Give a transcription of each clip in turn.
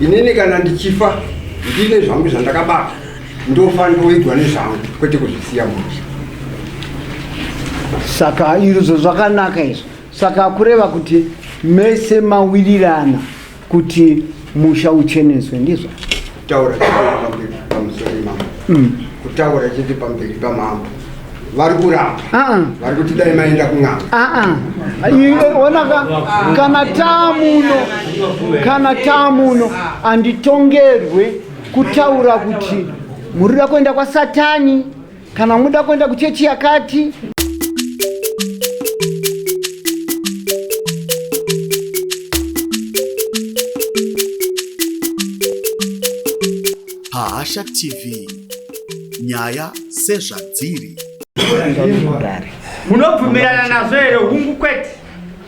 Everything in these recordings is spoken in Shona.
inini kana ndichifa ndine zvangu zvandakabata ndofa ndoigwa nezvangu kwete kuzvisiya musha saka izvo zvakanaka izvo saka kureva kuti mese mawirirana kuti musha ucheneswe ndizvo kutaura pamberi pamusori mambo mm. kutaura chete pamberi pamambo vari kuramba ah, ah. vari kuti dai maenda kun'anga ah, ona kana taamuno kana taamuno anditongerwe kutaura kuti murira kuenda kwasatani kana muda kuenda kuchechi yakati Hasha TV nyaya sezvadziri munobvumirana nazvo here hungu kwete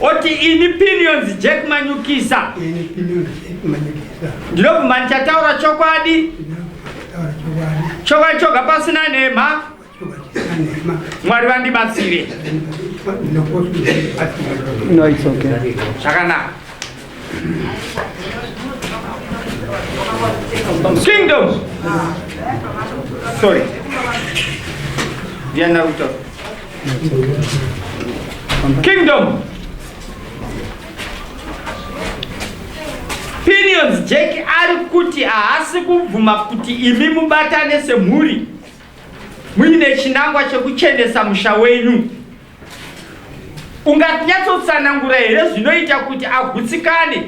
oti ini pinions jack manyukisa ndinobvuma ndichataura chokwadi chokwadi choga pasina nhema mwari vandibatsire zvakanaka Kingdom. Sorry. Diana Ruto. Kingdom. Pinions Jack ari kuti haasi kubvuma kuti imi mubatane semhuri muine chinangwa chekuchenesa musha wenyu. Unganyatsotsanangura here zvinoita kuti agutsikane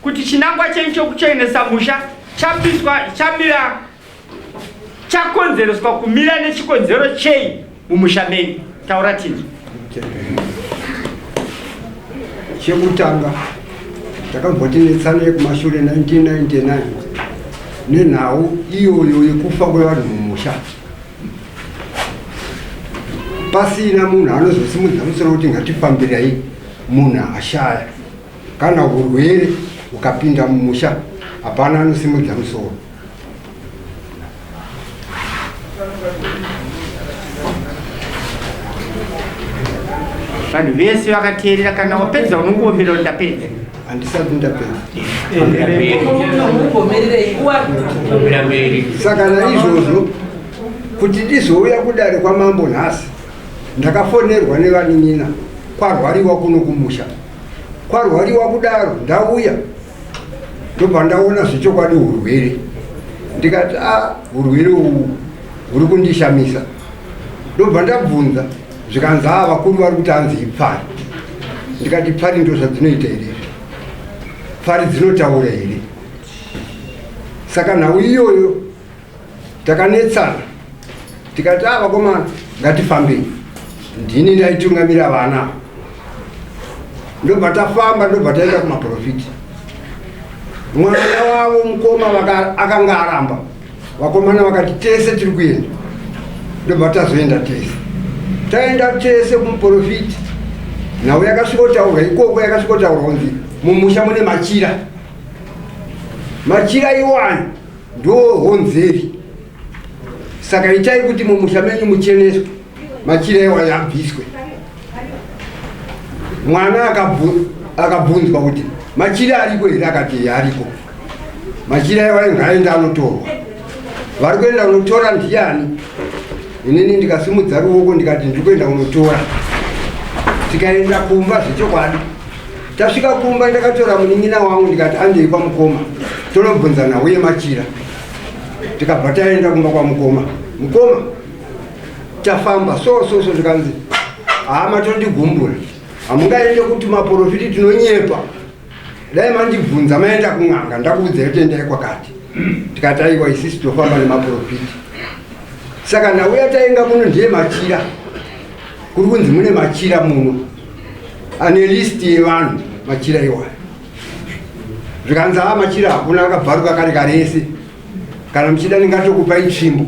kuti chinangwa chenyu chokuchenesa musha chapiswa chamira chakonzereswa kumira nechikonzero chei mumusha menyu? Taura tinzwe. Chekutanga takabva tinetsana yekumashure 1999 nenhau iyoyo yekufa kwevanhu mumusha. pasina munhu anozosimudza musoro kuti ngatifambirai munhu ashaya kana urwere ukapinda mumusha hapana anosimudza musoro vanhu vese vakateerera kana wapedza unongoomera kuti ndapedza handisati ndapedza saka naizvozvo Kuti ndizouya kudare kwamambo nhasi ndakafonerwa nevanin'ina kwarwariwa kuno kumusha. Kwarwariwa kudaro ndauya ndobva ndaona zvechokwadi hurwere ndikati a ah, hurwere uhu huri kundishamisa ndobva ndabvunza zvikanzi haa vakuru vari kuti hanzi ipfari ndikati pfari ndo zvadzinoita here pfari dzinotaura here saka nhau iyoyo takanetsana tikati a vakomana ngatifambei ndini ndaitungamira vana ndobva tafamba ndobva taenda kumaprofiti mwana wavo mukoma akanga aramba vakomana vakati tese tiri kuenda ndobva tazoenda tese taenda tese kumuprofiti nhau yakasvikotaurwa ikoko yakasvikotaurwa kunzi mumusha mune machira machira iwani ndohonzeri saka itai kuti mumusha menyu mucheneswe machira ewaya abviswe mwana akabvunzwa kuti machira ariko here akati ariko machira ewaya ngaaende anotorwa vari kuenda kunotora ndiyani inini ndikasimudza ruoko ndikati ndiri kuenda kunotora tikaenda kumba zvechokwadi Tasvika kumba ndakatora munin'ina wangu ndikati andei kwamukoma tonobvunzana uye machira tikabva taenda kumba kwamukoma mukoma tafamba so so so zvikanzi hama tondigumbura hamungaende kuti maporofiti tinonyepa dai mandibvunza maenda kun'anga ndakuudza yotendai kwakati tikati aiwa isisi tofamba nemaporofiti saka nhau yatainga muno ndiye machira kuri kunzi mune machira muno ane list yevanhu machira iwayo zvikanzi haa machira hakuna akabvaruka kare karese kana muchida ndingatokupa itsvimbo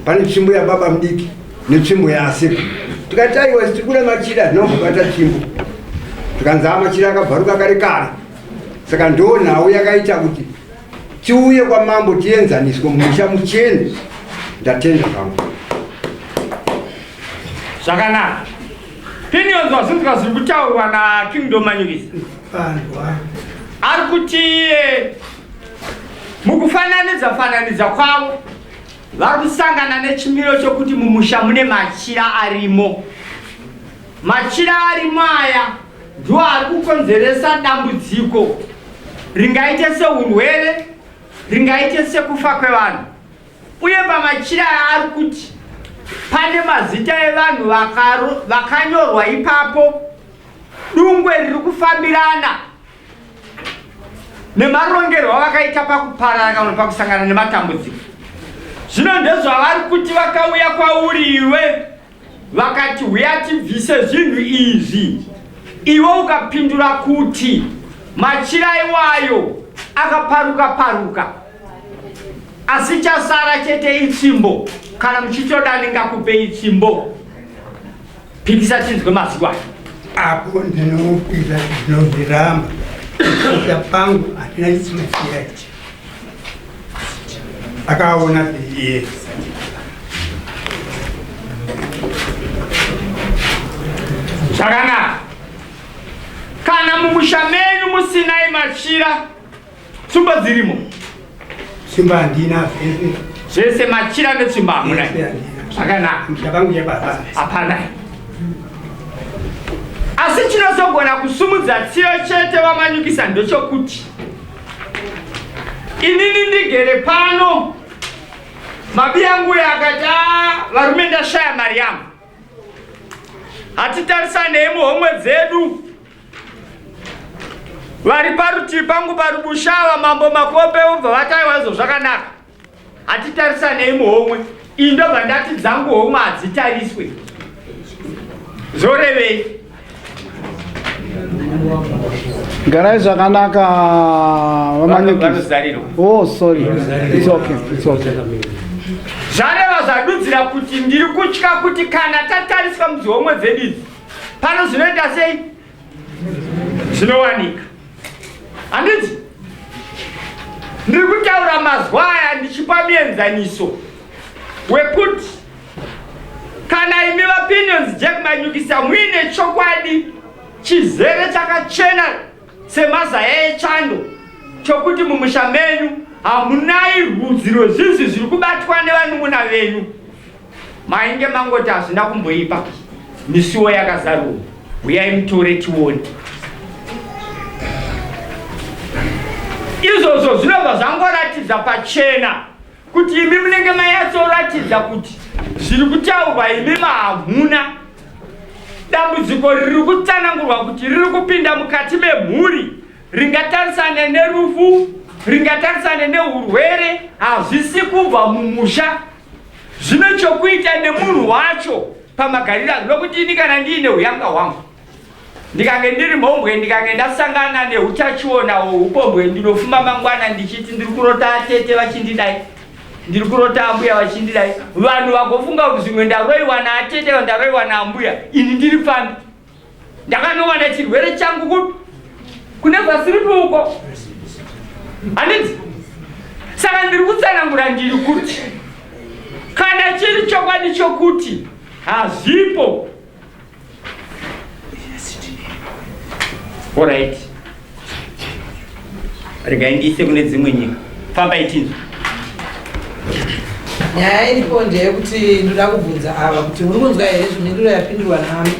pane tsvimbo yababa mudiki netsvimbo yaaseko tikati aiwa tiri kuda machira tinobata tsvimbo zvikanzi haa machira akabvaruka kare kare saka ndoo nhau yakaita kuti Tiuye kwamambo tienzaniswe mumusha muchene. Ndatenda zvangu. Zvakanaka. Pinions wazunzwa zviri kutaurwa na King Domanyikisa. Ari kuti eh, mukufananidza fananidza kwavo vari kusangana nechimiro chokuti mumusha mune machira arimo. Machira arimo aya ndiwo ari kukonzeresa dambudziko ringaite seurwere ringaite sekufa kwevanhu uye pamachira aari kuti pane mazita evanhu vakanyorwa ipapo dungwe riri kufambirana nemarongerwo avakaita pakuparara kana pakusangana nematambudziko zvino ndezvavari kuti vakauya kwauri iwe vakati huya tibvise zvinhu izvi iwe ukapindura kuti machira iwayo akaparuka paruka asi chasara chete itsimbo kana muchitoda ndingakupe itsimbo pikisa tinzwe mazwi ayo apo ndinopira ndinozviramba kuita pangu hatina chitsimbo chiyaichi akaona iye zvakanaka kana mumusha menyu musinai machira tsumba dzirimo simba handina zvese zvese machira netsumba hamuna Yes, yeah, yeah. zvakanaka musha vangu yababa hapana asi chinozogona kusumudza tsiyo chete vamanyukisa ndochokuti inini ndigere pano mabi yangu uyo akati ah, varume ndashaya mari yangu hatitarisanei muhomwe dzedu vari parutivi pangu pari bushava mambo makope vobva vataiwa izvo zvakanaka hatitarisanei muhomwe indobva ndati dzangu homwe hadzitariswe zvorevei garai zvakanaka vamanyekizarirwa oh sorry it's okay it's okay zvareva zvadudzira kuti ndiri kutya kuti kana tatariswa mudzihomwe dzedu idzi pano zvinoita sei zvinowanika handiti ndiri kutaura mazwa aya ndichipa mienzaniso wekuti kana imi vapinions jack manyukisa muine chokwadi chizere chakachena semazaya echando chokuti mumusha menyu hamunai rudzi rwezvinzi zviri kubatwa nevanun'una venyu Mainge mangoti hazvina kumboipa misuwo yakazarurwa huyai mutore tione izvozvo zvinobva zvangoratidza pachena kuti imi munenge mayatsoratidza kuti zviri kutaurwa imi mahamuna dambudziko riri kutsanangurwa kuti riri kupinda mukati memhuri ringatarisane nerufu ringatarisane neurwere hazvisi kubva mumusha zvine chokuita nemunhu wacho pamagariro angu nokuti ini kana ndiine uyanga hwangu ndikange ndiri mhombwe ndikange ndasangana neutachiona hweupombwe ndinofuma mangwana ndichiti ndiri kurota atete vachindidai ndiri kurota ambuya vachindidai vanhu vagofunga kuti zvimwe ndaroiwa naatete ndaroiwa naambuya ini ndiri pfambi ndakanowana chirwere changu kupi kune vasiripo uko handiti saka ndiri kutsanangura ndiri kuti kana chiri chokwadi chokuti hazvipo orit regai ndiise kune dzimwe nyika famba itinzwa nyaya iripo ndeyekuti ndoda kubvunza ava kuti uri kunzwa here zvimhinduro yapindurwa nami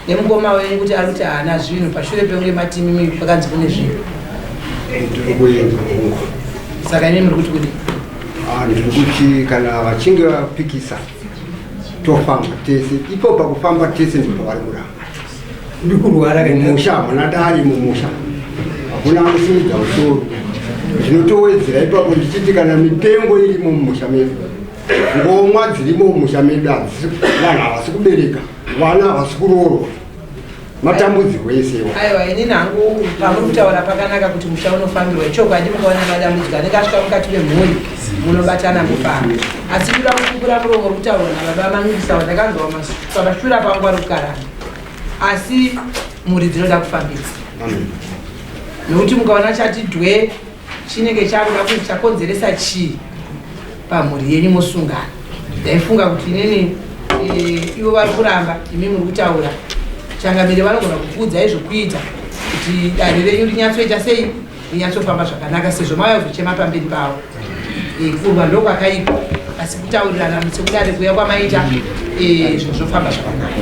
nemukoma wenyu kuti ari kuti haana zvinhu pashure pekunge matimi mii pakanzi kune zvinhu saka imi muri kuti kudi ah, ndiri kuti kana vachinge vapikisa tofamba tese ipo pakufamba tese ndipo vari kuramba ndikurwara mumusha hamuna dare mumusha hakuna anosimudza musoro zvinotowedzera ipapo ndichiti kana mitengo irimo mumusha medu ngomwa dzirimo mumusha medu vanhu havasi kubereka vana havasi kuroorwa matambudziko esewa aiwa ini nangu pamuri kutaura pakanaka kuti musha unofambirwa ichokwadi mukaona madambudziko anenge asvika mukati memhuri munobatana mufamba asi kuda kukura muromo uri kutaura nababa mangu kusawa ndakanzwa masuku Pakashura pangu ari kukarana asi mhuri dzinoda kufambisa nokuti mukaona chati dwe chinenge chakuda kuti chakonzeresa chii pamhuri yenyu mosungana ndaifunga kuti inini e, ivo vari kuramba imi muri kutaura changamire vanogona kukuudzai zvokuita kuti dare renyu rinyatsoita sei rinyatsofamba zvakanaka sezvo mauya kuzochema pamberi pavo eh, kurwa ndokwakaipa asi kutaurirana mutsekudare kuya kwamaita eh, zvinhu zvofamba zvakanaka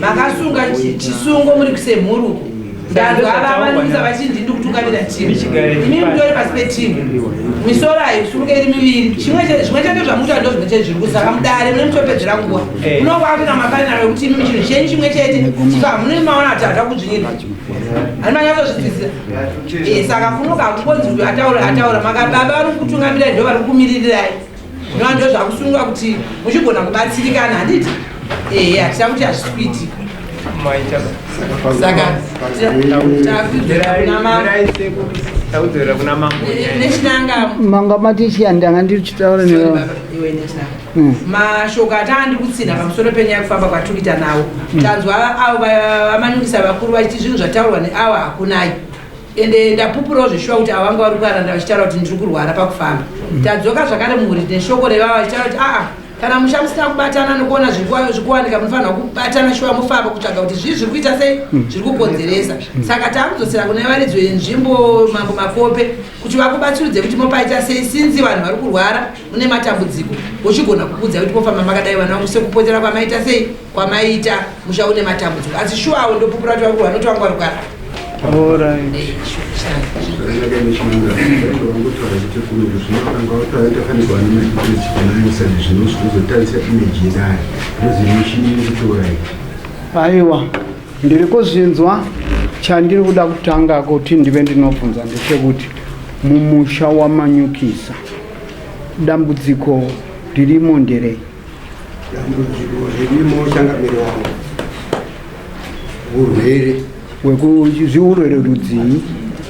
makasunga chisungo muri kusemhuruko ndanzwa avavanisa vachindi ndikutungamira timu imi mutori pasi petimu misoro haisunge iri miviri chimwe chete zvamuita ndo zvimwe chete zviri kusaka mudare mune mutopedzera nguva munokwakuina mafanira vekuti imi chinhu chenyu chimwe chete chika hamune maona kuti hata kudzvinyira ani manyatsozvitizira eh, saka kunoka hakungonzi uyu ataura ataura makababa vari kukutungamira ndo vari kukumirirai Zvino ndozvakusunga kuti muchigona kubatsirikana handiti? Ehe, hatida kuti hazvisi kuitika. Saka takudzera kuna mambo. Takudzera kuna mambo. Nechinanga. Manga mati chiya ndanga ndiri chitaura newe. Iwe nechinanga. Hmm. Mashoko atanga ndiri kutsinha pamusoro penyaya kufamba kwatukita nawo. Hmm. Tanzwa avo vamanyukisa vakuru vachiti zvinhu zvataurwa neawa hakunayi. Ende ndapupurawo zveshuwa kuti ava vanga vari kuaranda vachitaura kuti ndiri kurwara pakufamba. Mm. Tadzoka zvakare muhuri neshoko revava vachitaura kuti aa kana musha musina kubatana nokuona zviri kuwanika munofanirwa kubatana shuwa mofamba kutsvaga kuti zvii zviri kuita sei mm. zviri kukonzeresa mm. saka takudzosera kune varidzo yenzvimbo mambo makope kuti vakubatsirudze kuti mopaita sei sinzi vanhu vari kurwara mune matambudziko uchigona kukudza kuti mofamba makadai vana vangu sekupotera kwamaita sei kwamaita musha une matambudziko asi shuwa awo ndopupura kuti vakuru vanoti vanga varugara aiwa ndiri kuzvinzwa chandiri kuda kutanga kuti ndive ndinobvunza ndechekuti mumusha wamanyukisa dambudziko ririmo nderei Dambudziko ririmo changamire wangu urwere wekuzviurwere rudzii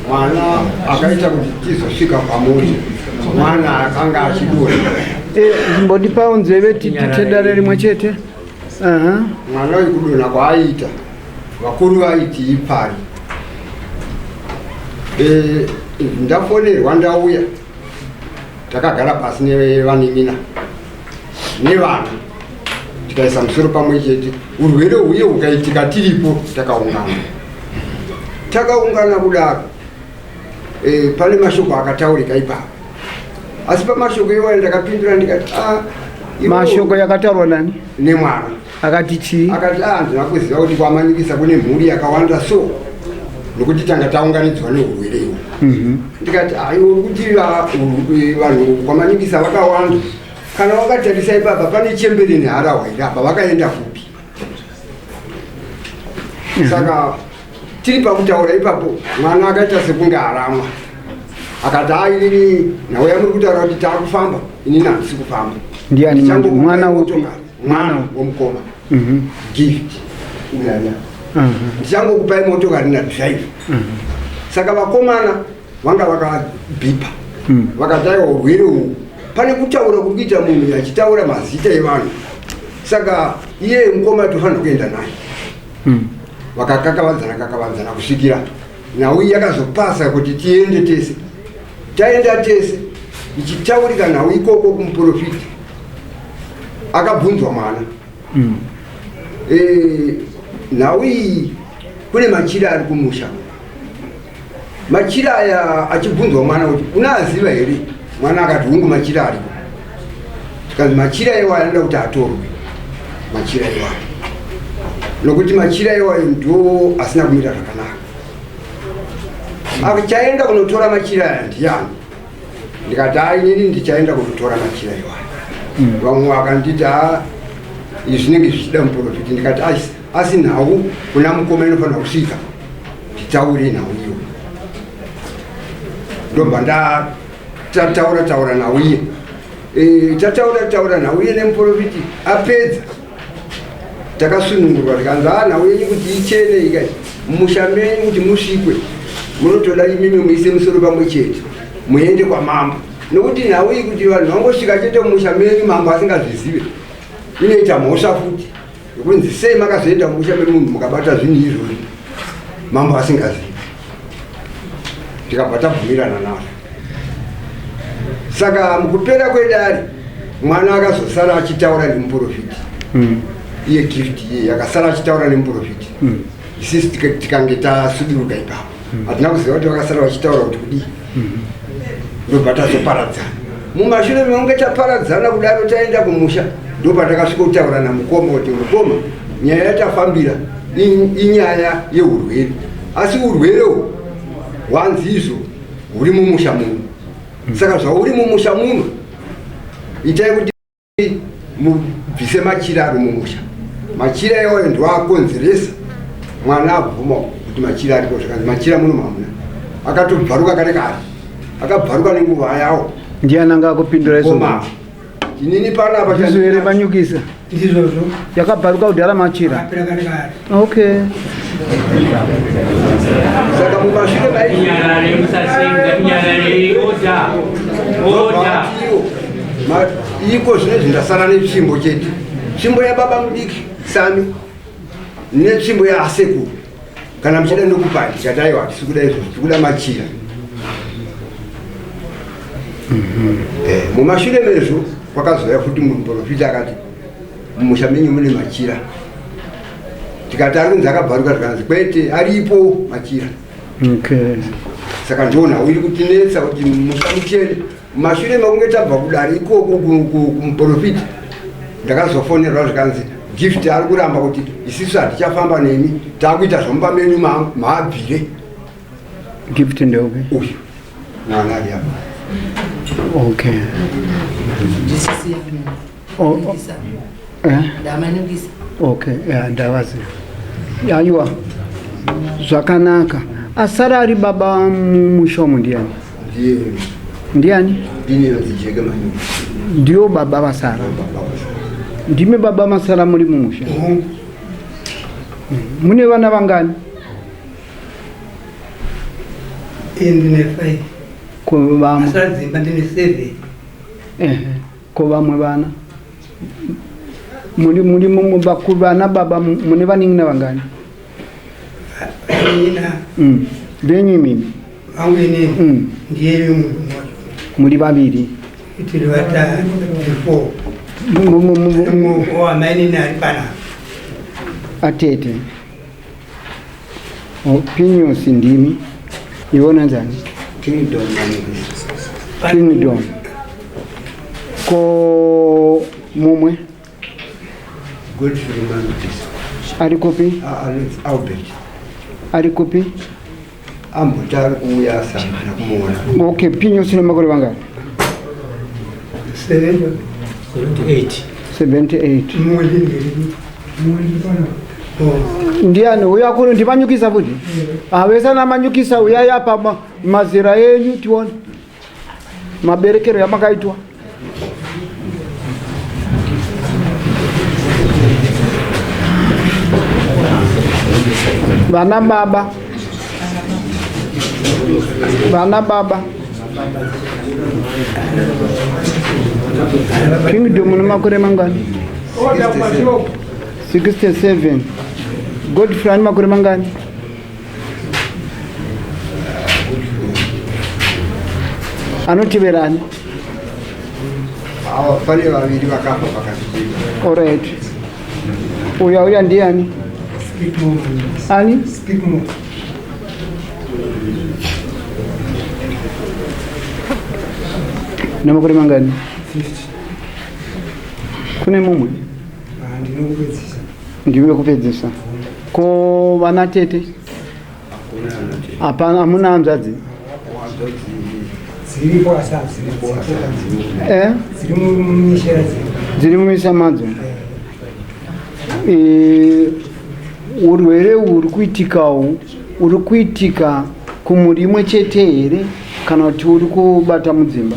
mwana akaita kuti tizosvika pamuti mwana akanga achidura eh, mbondipawo nzeve titedare rimwe chete mwana uyu kudonha kwaaiita vakuru vaiti ipari eh, ndafonerwa ndauya takagara pasi nevanin'ina nevana tikaisa musoro pamwe chete urwere huye hukaitika tiripo takaungana takaungana kudaro e, pane mashoko akataurika ipapo asi pamashoko iwayo ndakapindura ndikati ah, mashoko yakataurwa nani nemwana akati chii akati ah ndina kuziva kuti kwamanikisa kune mhuri yakawanda so nokuti tanga taunganidzwa neurwere iwo mhm. ndikati aiwo ah, kuti ah, vanhu kwamanikisa vakawanda kana wakatarisa ipapa pane chembere neharahwa iri apa vakaenda kupi mhm. saka tiri pakutaura ipapo mwana akaita sekunge aramwa akati airi ah, nhau yamuri kutaura kuti taakufamba ini nandisi kufamba ndiani mwana upi mwana womukoma mhm. gift uyaya mhm. ndichangokupai motokari na drive mhm. saka vakomana vanga vakabhipa vakataiwa urwere uhu pane kutaura kuri kuita munhu achitaura mazita evanhu saka iye mukoma tofanira kuenda naye vakakakavadzana kakavadzana kusvikira Nhau iyi yakazopasa kuti tiende tese. Taenda tese ichitaurika nhau ikoko kumuprofiti. Akabvunzwa mwana. Mm. E, nhau iyi kune machira ari kumusha. Machira aya achibvunzwa mwana kuti unaaziva here? Mwana akati hungu machira ariko. Because machira iwayo anoda kuti atorwe machira iwayo nokuti machira iwayo ndo asina kumira zvakanaka akuchaenda kunotora machira aya ndiyani ndikati ainini ndichaenda kunotora machira iwayo hmm. vamwe vakanditi a izvi zvinenge zvichida muprofiti ndikati asi asi nhau kuna mukoma inofanira kusvika titaure nhau iyo ndobva ndaa tataura taura nauye e, tataura taura nauye nemuporofiti apedza takasunungurwa tikanzi a ah, nhau yenyu kuti ichene ikai musha menyu kuti musvikwe munotoda imimi muise musoro pamwe chete muende kwamambo nokuti nhau iyi kuti vanhu vangosvika chete musha menyu mambo asingazvizive inoita mhosva futi Kunzi sei makazoenda mumusha memunhu mukabata zvinhu izvozvi mambo asingazivi. Tikabva tabvumirana nazvo. Saka mukupera kwedare mwana akazosara achitaura nemuprofiti. Mm. Iye gift iye akasara achitaura nemuprofiti. Mm. Isisi tikange tasuduruka ipapo. Mm. Hatina kuziva kuti vakasara vachitaura kuti kudii. ndobva tazoparadzana mumashure mekunge taparadzana kudaro taenda kumusha ndobva takasvikotaura namukoma kuti mukoma nyaya yatafambira inyaya yeurwere asi urwere uhu hwanzi izvo huri mumusha muno saka zvauri mumusha muno itai kuti mubvise machira ari mumusha machira iwayo ndiwaakonzeresa mwana abvuma kuti machira ariko zvakanzi machira muno mamuna akatobvaruka kare kare akabvaruka nenguva yawo ndiani anga akupindura izoma inini panapa ndizoere manyukisa ndizvozvo yakabvaruka kudhara machira apera kare kare Okay. Saka mumashure mai Kunyarare musasenga kunyarare order. Order. Ma- iko zvinezvi ndasara netsvimbo chete tsvimbo yababa mudiki sami netsvimbo yaasekuru kana muchida ndokupai chataiwa hatisi kuda izvozvo tikuda machira Eh, mumashure mezvo kwakazouya futi muprofita akati Mumusha menyu mune machira. Tikati ari kunzi akabvaruka zvikanzi kwete aripo machira. Okay. Saka ndona uyu kutinetsa kuti musha muchene mashure makunge tabva kudari ikoko kumuprofita ndakazofonerwa zvikanzi gift ari kuramba kuti isisu hatichafamba nemi taakuita zvomumba menyu maabvire gift ndeupi uyu mwana ali apa okay Ndamanukisa. Eh? Ndamanukisa. Okay, yeah, ndavaziva. Yaiwa. Zvakanaka. Asara ari baba mushomo ndiani? Ndiye. Ndiani? Ndine vazijeke mani. Ndiyo baba vasara. Ndime baba masara muri mumusha. Mm. Mune vana vangani? Ndine 5. Ko vamwe. Asara dzimba ndine 7. Eh. Ko vamwe vana muri muri mu- vakuru vana baba mu- mune vanin'ina vangani Nina mm. venyu imimi vangu inini mm. ndiye vimwe mmoja muri vaviri tiri vatatu before Mu- mu- mu- mu- mu- muoko wamainini ari panapa atete Opinions ndimi ivo nanzani kingdom kingdom ko mumwe arikopi ah, arikopi Ambotanga kuuya asangana kumuona. Okay, pinyo sina makore vanga. 78. 78. Ndiani uya kuno ndimanyukisa futi? Avesa namanyukisa uya yapa mazira enyu tione. maberekero yamakaitwa vana baba vana baba kingdom une makore mangani 67 godfrey ane makore mangani anoteverani awa pane vaviri vakafa pakati orit uyo auya ndiani ani nemakore mangani kune mumwe ah, Ndimi wekupedzisa. Ko vana tete? Hapana, hamuna hanzvadzi? Dziripo asi hadzina Eh? dziri mumishera dziri dziri mumisha madzo Eh, urwere uhu huri kuitikawo uri kuitika kumhuri imwe chete here kana kuti uri kubata mudzimba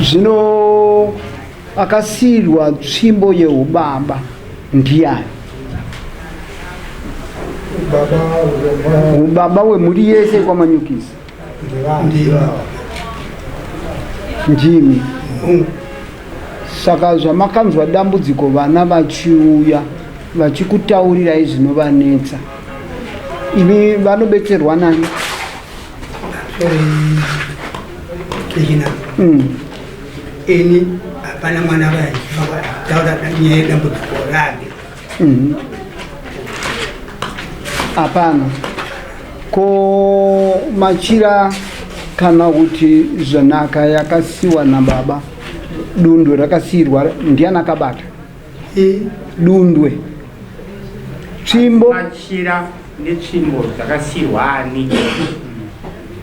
zvino akasiirwa tsvimbo yeubaba ndiyani ubaba wemhuri yese kwamanyukisa ndimi saka zvamakanzwa dambudziko vana vachiuya vachikutaurirai zvinovanetsa imi vanobetserwa nani ini hapana mwana vaitaura nyaya yedambudziko rake mhm. hapana ko machira kana kuti zvanaka yakasiwa nababa dundo rakasiirwa ndiani akabata Dundwe. Tsvimbo. Machira netsvimbo dzakasiyirwa ani?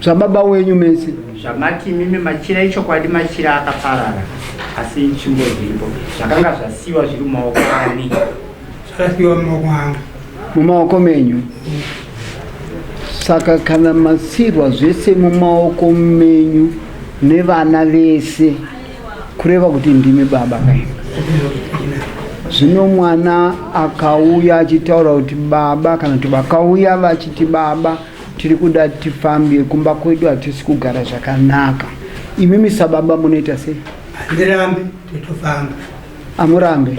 Zvababa wenyu mese. Zvamati imimi machira ichokwadi machira akaparara asi tsvimbo dziripo zvakanga zvasiyiwa zviri mumaoko ani? Zvakasiyiwa mumaoko angu. Mumaoko menyu. Saka kana masiyirwa zvese mumaoko menyu nevana vese kureva kuti ndimi baba kai zvino mwana akauya achitaura kuti baba kana kuti vakauya vachiti baba tiri kuda tifambe kumba kwedu hatisi kugara zvakanaka imimi sababa munoita sei handirambe totofamba amurambe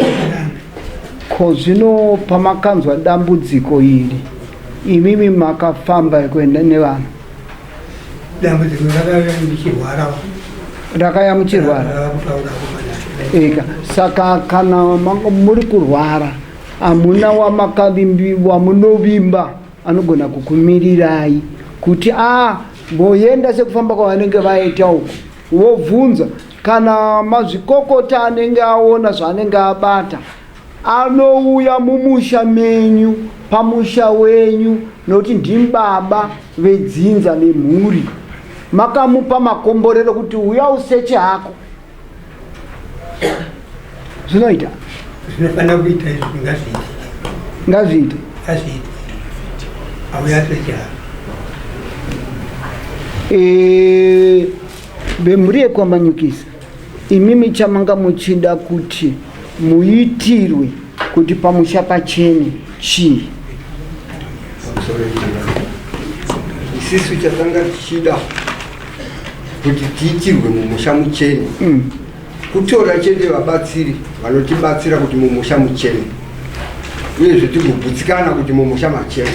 ko zvino pamakanzwa dambudziko iri imimi makafamba kuenda nevana dambudziko ndakauya ndichirwarawo ndakaya muchirwara ndava kutaura kumanaa eka saka kana manga muri kurwara hamuna wamakavimbi wamunovimba anogona kukumirirai kuti a mboyenda sekufamba kwavanenge vaita uko wobvunza kana mazvikokota anenge aona zvaanenge abata Anouya mumusha menyu, pamusha wenyu, nokuti ndimi baba vedzinza nemhuri. Makamupa makomborero kuti uya useche hako. Zvinoita? Zvinofanira kuita izvi ngazviite. Ngazviite. Ngazviite. Auya seche hako. Eh, vemhuri yekwamanyukisa Imimi chamanga muchida kuti muitirwe kuti pamusha pachene chii? Isisu chatanga tichida kuti tiitirwe mumusha muchene mm. kutora chete vabatsiri vanotibatsira kuti mumusha muchene uyezve tigogutsikana kuti mumusha machene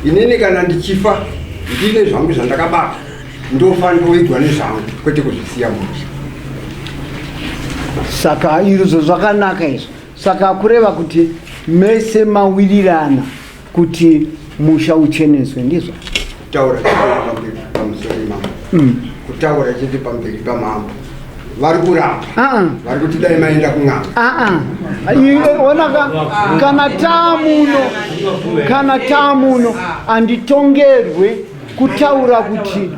inini kana ndichifa ndine zvangu zvandakabata ndofanira kuidwa nezvangu kwete kuzvisiya musha saka izvo zvakanaka izvo saka kureva kuti mese mawirirana kuti musha ucheneswe ndizvo kutaura pamusoro imambo mm. kutaura chete pamberi pamambo vari kuramba ah. vari kuti dai maenda kun'anga ah, ah. onaka kana taamuno kana taamuno anditongerwe kutaura kuti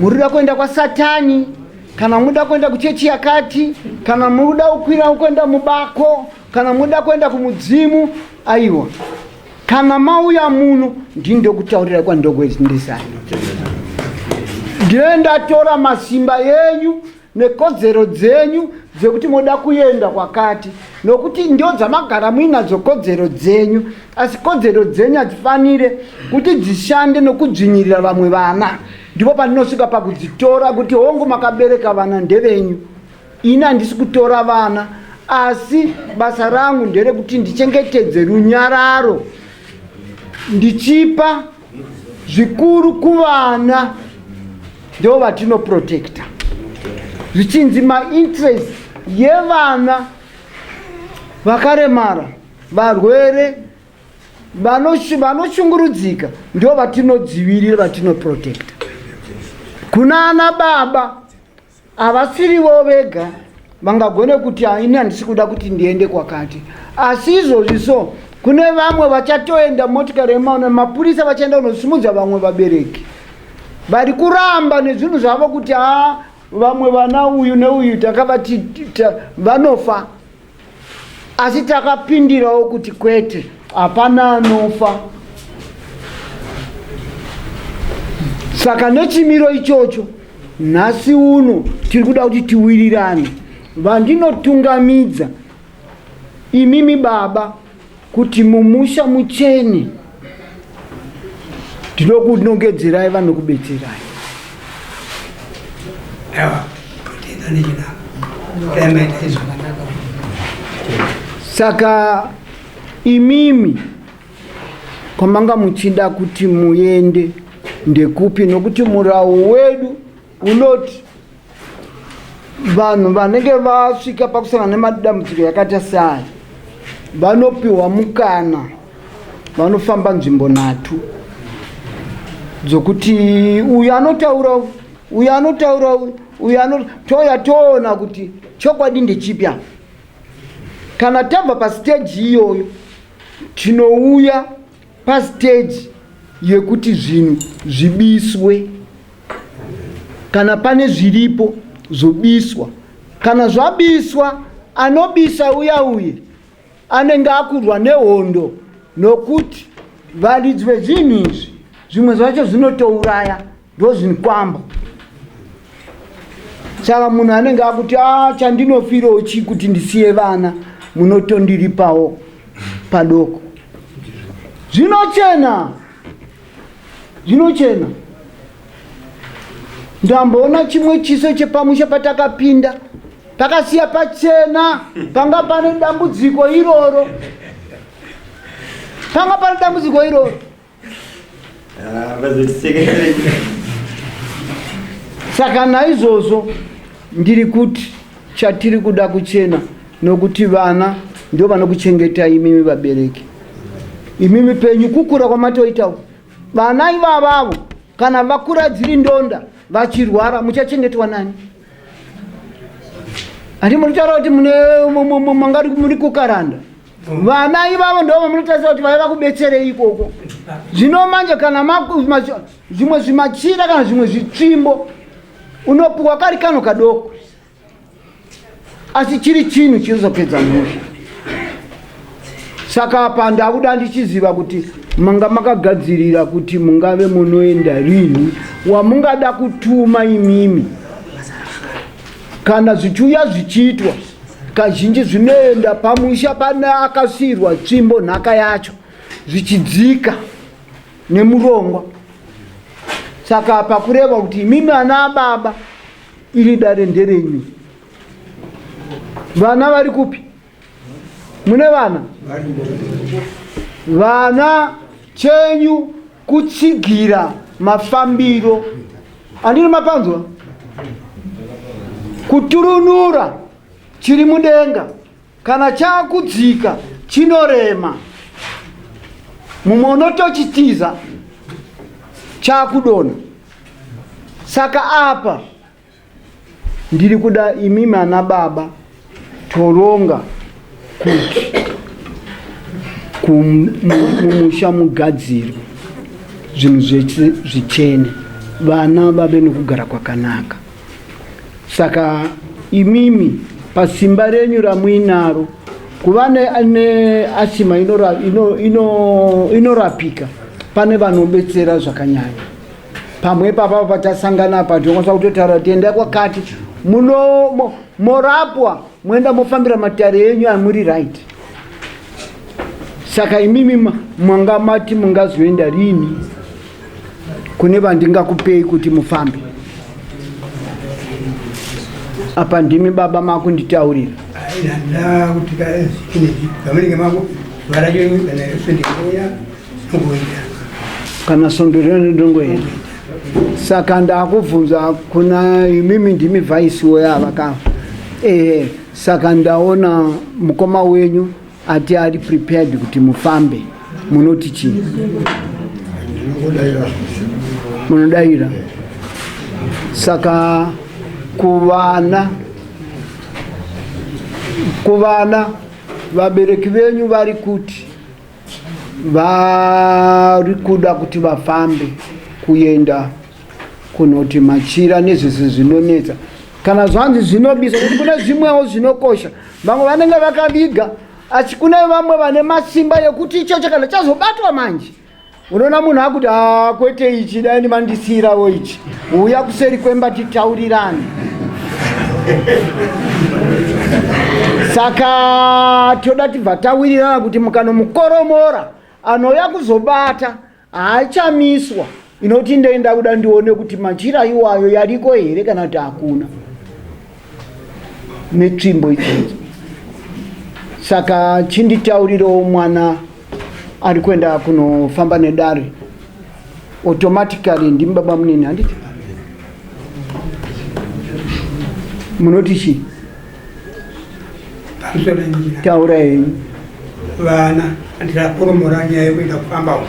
murida kuenda kwasatani kana muda kuenda kuchechi yakati kana muda kukwira kuenda mubako kana muda kuenda kumudzimu aiwa kana mauya muno ndini ndokutaurira kwandokweindisani ndinoendatora masimba yenyu nekodzero dzenyu dzekuti moda kuenda kwakati nokuti ndio dzamagara muinadzo kodzero dzenyu asi kodzero dzenyu hadzifanire kuti dzishande nokudzvinyirira vamwe vana ndipo pandinosvika pakudzitora kuti hongu makabereka vana ndevenyu ini handisi kutora vana asi basa rangu nderekuti ndichengetedze runyararo ndichipa zvikuru kuvana ndo vatinoprotecta zvichinzi mainterest yevana vakaremara varwere vanoshungurudzika ndo vatinodzivirira vatinoprotecta kuna ana baba Havasirivo vega vangagone kuti ini handisi kuda kuti ndiende kwakati, asi izvozvi so kune vamwe vachatoenda motikari yemaona mapurisa vachaenda kunosimudza vamwe vabereki vari kuramba nezvinhu zvavo kuti haa vamwe vana uyu neuyu takavati vanofa asi takapindirawo kuti kwete hapana anofa saka nechimiro ichocho nhasi uno tiri kuda kuti tiwirirane vandinotungamidza imimi baba kuti mumusha muchene ndinokunongedzerai vanokubetserai saka imimi kwamanga muchida kuti muende ndekupi nokuti murawo wedu unoti vanhu vanenge vasvika pakusangana nemadambudziko yakaita seaya vanopiwa mukana vanofamba nzvimbo nhatu dzokuti uyu anotaura uyu anotaura uyu ano toya toona kuti chokwadi ndechipi apa kana tabva pasiteji iyoyo tinouya pastage yekuti zvinhu zvibiswe kana pane zviripo zvobiswa kana zvabiswa anobisa uya uye anenge akurwa nehondo nokuti varidzi vezvinhu izvi zvimwe zvacho zvinotouraya ndozvinikwamba saka munhu anenge akuti a ah, chandinofirawo chii kuti ndisiye vana munotondiripawo padoko zvinochena zvinochena ndamboona chimwe chiso chepamusha patakapinda pakasiya pachena panga pane dambudziko iroro panga pane dambudziko iroro saka naizvozvo ndiri kuti chatiri kuda kuchena nokuti vana ndio vanokuchengeta imimi vabereki imimi penyu kukura kwamatoita uku vana ivavavo kana vakura dziri ndonda vachirwara muchachengetwa nani hati munotaura kuti mangari muri kukaranda vana ivavo ndo vamunotarisa kuti vaiva kubetserei ikoko zvino manje kana zvimwe zvimachira kana zvimwe zvitsvimbo unopiwa kari kano kadoko asi chiri chinhu chinozopedza mhosva saka apa ndakuda ndichiziva kuti manga makagadzirira kuti mungave munoenda rini wamungada kutuma imimi kana zvichiuya zvichiitwa kazhinji zvinoenda pamusha pane akasiirwa tsvimbo nhaka yacho zvichidzika nemurongwa saka apa kureva kuti imimi ana ababa iri dare nderenyu vana vari kupi mune vana vana chenyu kutsigira mafambiro andiri mapanzwa kuturunura chiri mudenga kana chakudzika chinorema mumwe unotochitiza chakudona saka apa ndiri kuda imimi ana baba toronga kuti mumusha mugadzirwe zvinhu zvese zvichene vana vave nokugara kwakanaka saka imimi pasimba renyu ramuinaro kuva neasima inorapika ino, ino, ino pane vanobetsera zvakanyanya pamwe ipapa patasangana apa tinokwanisa kutotaura kuti endai kwakati muno morapwa moenda mofambira matare enyu amuri right saka imimi manga mati mungazoenda rini kune vandingakupei kuti mufambe apa ndimi baba makunditaurira kuti kana svondo rino ndongoenda saka ndakubvunza kuna imimi ndimi vhaisi woyava ka ehe saka ndaona mukoma wenyu ati ari prepared kuti mufambe munoti chii munodaira saka kuvana kuvana vabereki venyu vari kuti vari kuda kuti vafambe kuenda kunoti machira nezvese zvinonetsa kana zvanzi zvinobisa kuti kune zvimwewo zvinokosha vamwe vanenge vakaviga asi kune vamwe vane masimba yekuti ichocho kana chazobatwa manje unoona munhu akuti ah, kwete ichi dai ndimandisiyirawo ichi Uya kuseri kwemba titaurirane. Saka toda tibva tawirirana kuti mukanomukoromora anouya kuzobata haachamiswa inoti ndei ndakuda ndione kuti machira iwayo yariko here kana kuti hakuna. netsvimbo idzodzo saka chinditaurirawo mwana ari kuenda kunofamba nedare automatically ndimi baba munini handiti munoti chii taura henyu vana andirakoromora nyaya yekuenda kufamba uko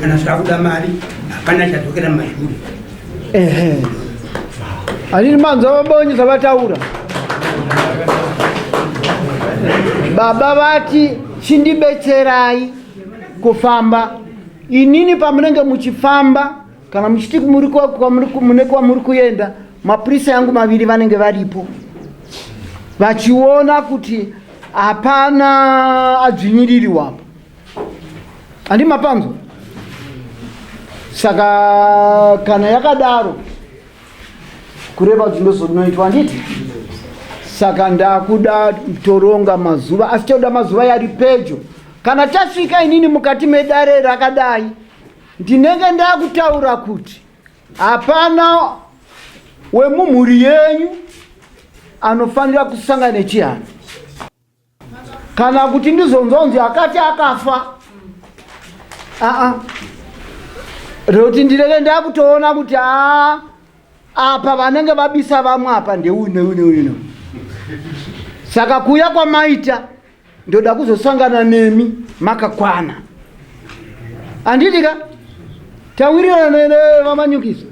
kana zvakuda mari hapana chadzokera mazvuri Ehe. Anini manzwa vabonye zvavataura. Baba vati chindibetserai kufamba. Inini pamunenge muchifamba kana muchiti muri kwa- kwamuri ku- mune kwamuri kuenda mapurisa yangu maviri vanenge varipo vachiona kuti hapana adzvinyiririwa apa handi mapanzwa saka kana yakadaro kureva kuti ndozonoitwa handiti saka ndakuda toronga mazuva asi toda mazuva yari pedyo kana tasvika inini mukati medare rakadai ndinenge ndakutaura kuti hapana wemumhuri yenyu anofanira kusangana nechihana kana kuti ndizonzonzi akati akafa aa rekuti ndireve ndakutoona kuti a apa vanenge vabisa vamwe apa ndeune une uno saka kuuya kwamaita ndoda kuzosangana nemi makakwana andidika Tawirirana nevamanyukiso.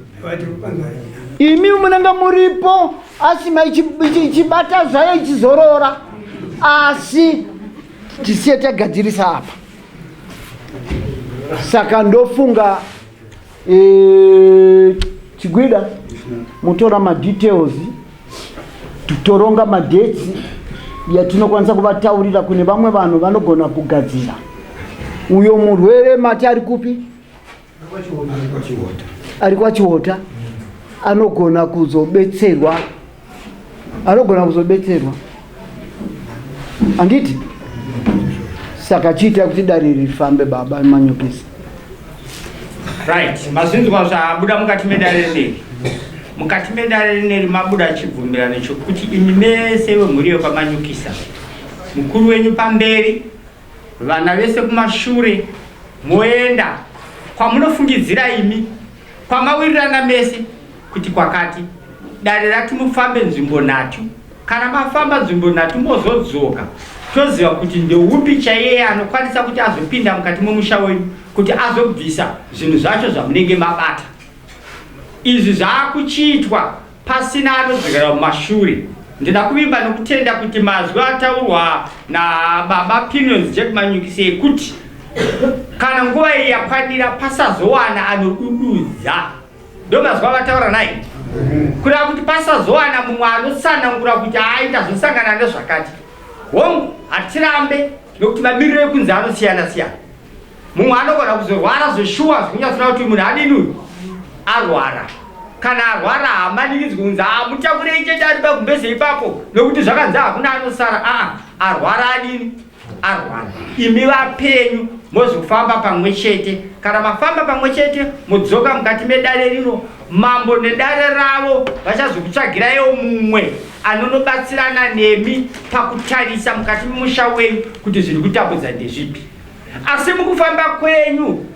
Imi munenge muripo asima ichibata zvayo ichizorora asi tisiye tagadzirisa apa saka ndofunga e, chigwida mutora madetails toronga madetsi yatinokwanisa kuvataurira kune vamwe vanhu vanogona kugadzira uyo murwere mati ari kupi ari kwachiota anogona kuzobetserwa anogona kuzobetserwa handiti saka chiita kuti dare rifambe baba manyokisi right mazvinzwa zvabuda mukati medare rineri mukati medare rineri mabuda chibvumirano chokuti imi mese vemhuri yekwamanyukisa mukuru wenyu pamberi Vana vese kumashure moenda kwamunofungidzira imi kwamawirirana mese kuti kwakati dare rati mufambe nzvimbo nhatu kana mafamba nzvimbo nhatu mozodzoka toziva kuti ndeupi chaiyeye anokwanisa kuti azopinda mukati momusha wenyu kuti azobvisa zvinhu zvacho zvamunenge mabata izvi zvaakuchiitwa Pasina anodzokera mumashure. Ndinoda kuvimba nokutenda kuti mazwi ataurwa nababa Pinions Jack Manyukise ekuti kana nguva iyi yakwanira pasazowana anodududza ndomazwi avataura naye kureva kuti pasazowana mumwe anotsanangura kuti aita zvosangana nezvakati hongu hatirambe nokuti mamiriro ekunze anosiyana siyana mumwe anogona kuzorwara zveshuwa zvikunyatsona kuti munhu adini uyu arwara kana arwara haamanikidzwi kunzi amutakurei chete ari pagumbeze ipapo nokuti zvakanzi hakuna anosara aa arwara adini arwara imi vapenyu mozofamba pamwe chete kana mafamba pamwe chete modzoka mukati medare rino mambo nedare ravo vachazokutsvagiraiwo mumwe anonobatsirana nemi pakutarisa mukati memusha wenyu kuti zviri kutambudza ndezvipi Asi mukufamba kwenyu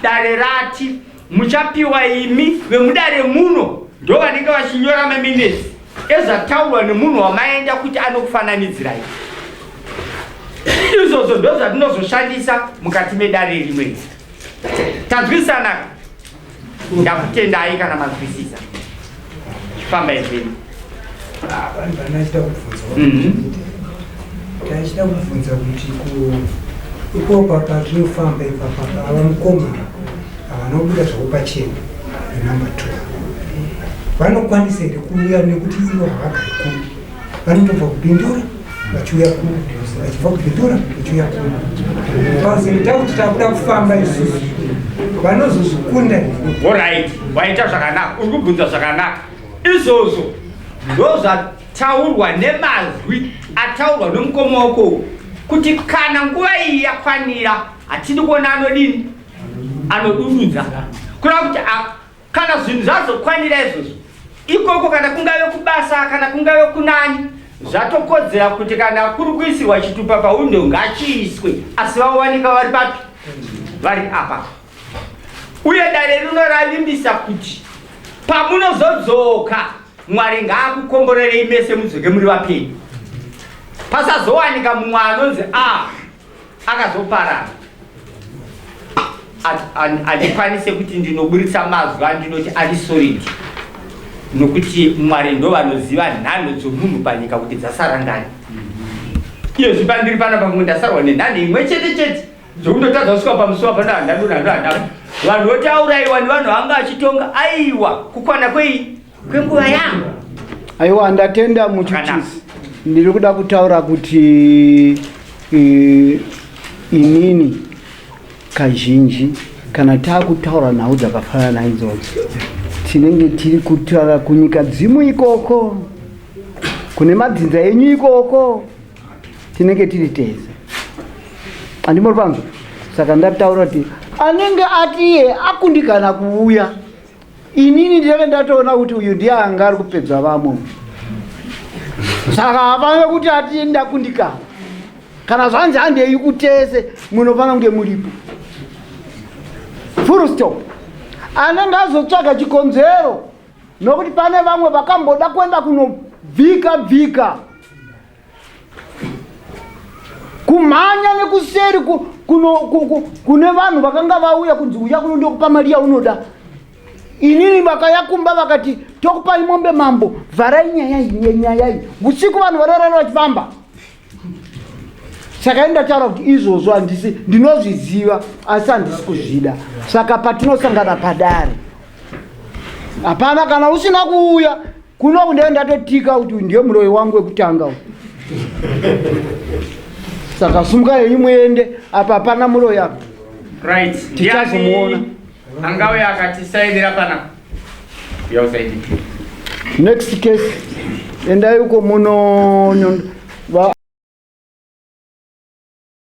dare rati muchapiwa imi vemudare muno ndo vanenge vachinyora maminesi ezvataurwa nemunhu wamaenda kuti anokufananidzirai izvozvo ndozvatinozoshandisa mukati medare rimwe tanzwisanaka ndakutendai kana mazwisisa famba izveni vanhu vanaachida kubvunza taachida kubvunza kuti ikoko patinofamba ipapa ava mukoma havana kubuda zvakupachena nenumber two vanokwanisa here kuuya nekuti ivo havagari kuri vanotobva kupindura vachiuya kuno vachibva kupindura vachiuya kuno bcause ndaa kuti takuda kufamba isusu vanozozvikunda orit waita zvakanaka uri kubvunza zvakanaka izvozvo ndozvataurwa nemazwi ataurwa nomukoma wako kuti kana nguva iyi yakwanira hatidi kuona anodini anodududza kureva kuti Kana zvinhu zvazokwanira izvozvo ikoko, kana kungave kubasa, kana kungave kunani, zvatokodzera kuti kana kuri kuisirwa chitupa pawindo ngachiiswe, asi vawanika vari papi? Vari apa. Uye dare rino ravimbisa kuti pamunozodzoka Mwari ngaakukomborerei mese mudzoke muri vapenyu, pasazowanika mumwe anonzi a ah, akazoparara handikwanise kuti ndinoburitsa mazwi andinoti ari solid nokuti mwari ndo vanoziva nhanho dzomunhu panyika kuti dzasara ngani iyo zvipandiri pana pamwe ndasarwa nenhanho imwe chete chete dzokundotadza kusvika pamusuwa pana handadonandohandapo vanhu votauraiwa nevanhu vanga vachitonga aiwa kukwana kwei kwenguva yangu aiwa ndatenda muchuchisi ndiri kuda kutaura kuti eh, inini kazhinji kana taakutaura nhau dzakafanana idzodzo tinenge tiri kutaura kunyika dzimu ikoko kune madzinza enyu ikoko tinenge tiri tese andimori panzwa saka ndataura kuti anenge ati iye akundikana kuuya inini ndinenge ndatoona kuti uyu ndiye anga ari kupedza vamwe saka hafanire kuti ati ndakundikana kana zvanzi handei kutese munofanira kunge muripo full stop anenge azotsvaga chikonzero nokuti pane vamwe vakamboda kuenda kunobvika bvika kumhanya nekuseri kune vanhu vakanga vauya kunzi uya kuno ndokupa mari yaunoda inini vakaya kumba vakati tokupai mombe mambo vharai nyaya iyi nyaya iyi usiku vanhu varorara vachifamba saka ini ndataura kuti izvozvo handisi ndinozviziva asi handisi kuzvida saka patinosangana padare hapana kana usina kuuya kuno kundee ndatotika kuti ndiye muroyi wangu wekutanga u saka sumuka yenyu muende apa hapana muroyi apa right tichazomuona angauya akatisaidira pana yausaidi next case endai uko muno